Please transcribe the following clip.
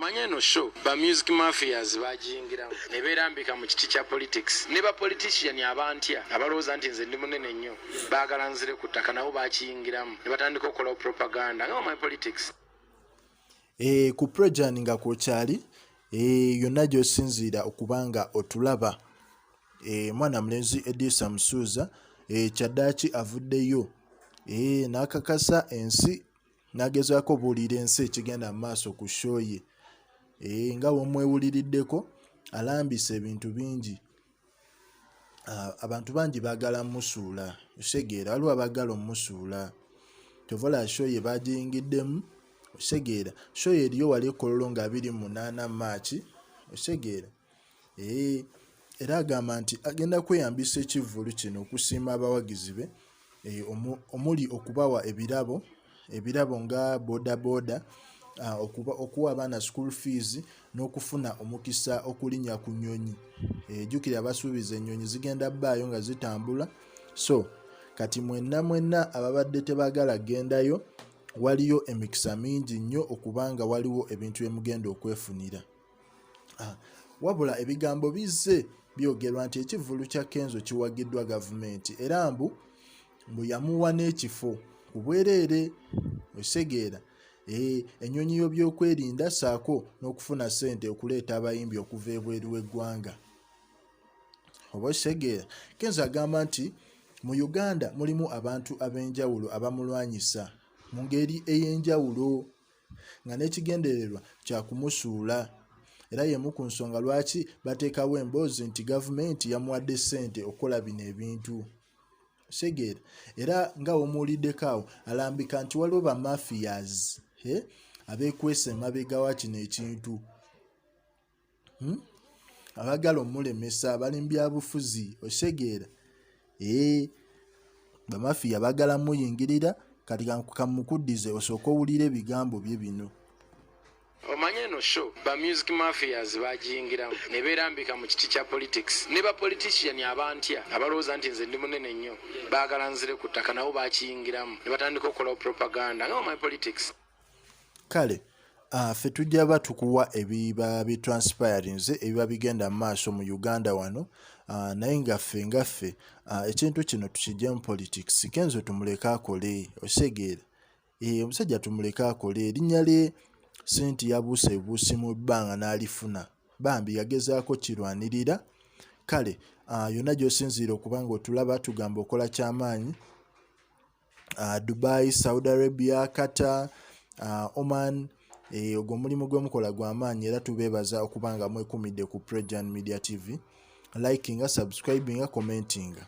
omanye eno show ba music mafias bajingiramu ne beerambika mu kiti kya politics ne ba politician abantya abalowooza nti nze ndi munene nnyo baagala nzire ku ttaka nabo bakiyingiramu ne batandika okukolawo propaganda nga my politics e, ku projan nga kwokyali e, eh, yonna gy'osinziira okuba nga otulaba e, eh, mwana mulenzi edisa musuuza e, kyaddaaki avuddeyo e, n'akakasa ensi nagezaako obuulira ensi ekigenda mu maaso ku shoye eh, nga wemwewuliriddeko alambisa ebintu bingi ah, abantu bangi bagala musuula osegeera waliwo abagala omusuula kyovola shoye bagiyingiddemu osegeera shoye eriyo wali ekololo nga 28 maaki osegeera Eh, era agamba nti agenda kweyambisa ekivvulu kino okusiima abawagizi be eh, omuli okubawa ebirabo ebirabo nga bodaboda ah, okuwa abaana school fees n'okufuna omukisa okulinya ku nyonyi eh, jukira abasuubiza enyonyi zigenda baayo nga zitambula so kati mwenna mwenna ababadde tebagala gendayo waliyo emikisa mingi nnyo okubanga waliwo ebintu byemugenda okwefunira ah, wabula ebigambo bizze byogerwa nti ekivvulu kya kenzo kiwagiddwa gavumenti era mbu mbu yamuwa n'ekifo ku bwereere osegeera eh, ennyonyi y'obyokwerinda saako n'okufuna ssente okuleeta abayimbi okuva ebweru w'eggwanga oba osegeera kenzo agamba nti mu uganda mulimu abantu ab'enjawulo abamulwanyisa mu ngeri ey'enjawulo nga n'ekigendererwa kya kumusuula era y'emu ku nsonga lwaki bateekawo emboozi nti gavumenti yamuwadde ssente okukola bino ebintu segeera era nga womuwuliddeko awo alambika nti waliwo bamafias abekwesa emabega wa kino ekintu hmm? abagala omulemesa abali mu byabufuzi okitegeera ee eh, bamafiya bagala muyingirira kati kamukuddize osooka owulira ebigambo bye bino omanyi eno show ba music mafias bagiyingiramu ne beerambika mu kiti kya politics ne bapolitician abantya abalowooza nti nze ndi munene nnyo baagala nzire ku ttaka nabo bakiyingiramu ne batandika okukola propaganda nga omanyi politics kale ah, ffe tujja ba tukuwa ebiba bi transpirings ebiba bigenda mu maaso mu uganda wano ah, naye ngaffe ngaffe ah, ekintu kino tukijja mu politics kenzo tumuleke akole osegeera eh, omusajja tumuleke akole erinnya lye sente yabuusa ebuusi mu bbanga n'alifuna bambi yagezaako kirwanirira kale yonna gy'osinziira okuba nga otulaba tugamba okola kyamaanyi uh, dubai saudi arabia qatar uh, oman eh, ogwo eh, mulimu gwemukola gwamaanyi era tubeebaza okuba nga mwekumidde ku prejan media tv likinga subscribinga commentinga